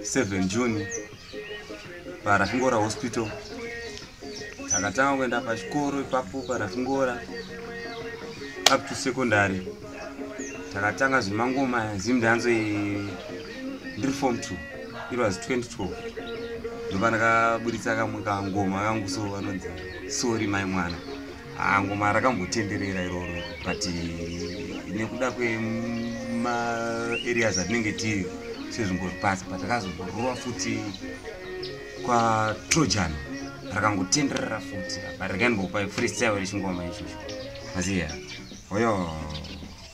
7 june parafingora hospital takatanga kuenda pachikoro ipapo parafingora up to secondary takatanga zvemangoma zimdanzo ndiri form two it was 2012 ndopandakaburitsa kamwe kangoma kangu so vanonzi sori mai mwana Ah, ngoma rakambotenderera iroro but nekuda kwemaareas atinenge tiri sezvimbopasa but rakazomborova futi kwatrojan rakangotenderera futi but rakainbopa freestyle rechingoma ichocho maziya oyo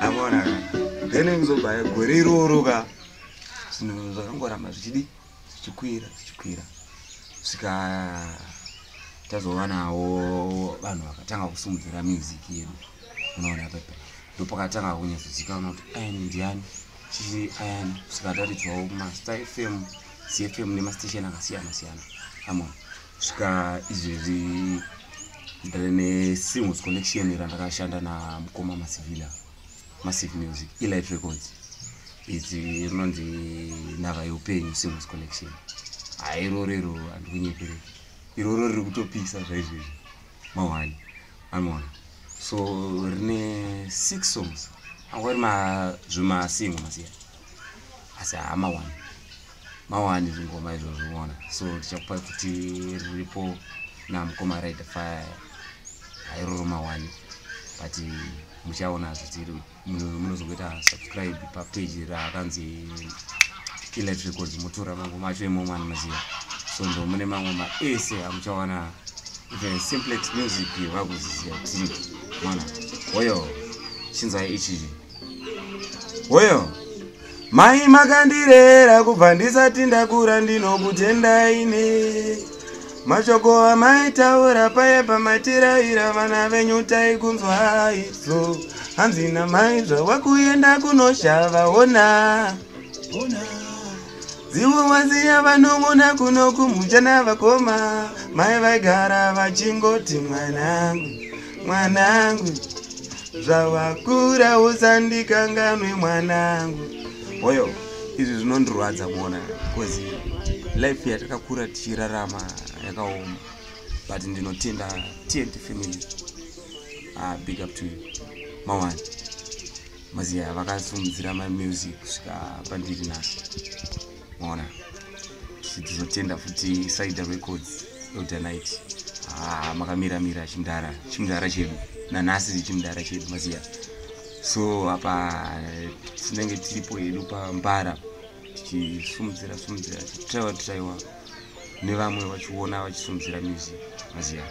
amona ka then kuzobaya gore iroro ka zvinhu zvakangoramba zvichidi zvichikwira zvichikwira svika tazovanawo vanhu vakatanga kusimudzira music yedu unoona pepe ndopakatanga kunyazozikanwa kuti ayani ndiani chii ayani svika taridzwawo mastar fm cfm nemastation akasiyana siyana amona kusvika izvezvi ndave nesingles collection randakashanda namukoma masivila massive music elight records idzi rinonzi nhava yeupenyu singles collection hairorero handikunyeperei iroro riri kutopisa zvaizvezvi mawani anoona so rine six songs angori mazvimasingo masiyana asi haa mawani mawani zvingoma izvo zviona so tichakupa kuti riripo namukoma ride fire hairoro mawani but muchaona zvitiri munozokuita subscribe papeji raakanzi elit records motora mangoma acho imomo anomaziva so ndo mune mangoma ese amuchawana even simplex music vakuziziva kuti mwana oyo chinzai ichii Hoyo. Mai makandirera kubva ndisati ndakura ndinokutendai ne. Mashoko amaitaura paye pamatiraira vana venyu taikunzwa izvo. Hanzi namai zvawakuenda kunoshava ona. Ona. Zivo waziya vanongona kuno kumujana vakoma. Mai vaigara vachingoti mwanangu. mwanangu zvawakura usandikanganwe mwanangu hoyo izvi zvinondirwadza mona bcause life yatakakura tichirarama yakaoma but ndinotenda tnt family ah, big up to you mawani maziya vakasumudzira mamusic kusvika pandiri nasi ona tichizotenda futi saida records elder night ah, makamira mira chimdara chimdara chedu nanhasi chimdara chedu maziya so apa tinenge tiripo hedu pambara tichisumudzira sumudzira tichitaiwa titaiwa nevamwe vachiona vachisumudzira music maziya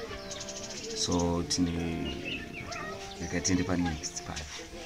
so tine rega tiende panext pacho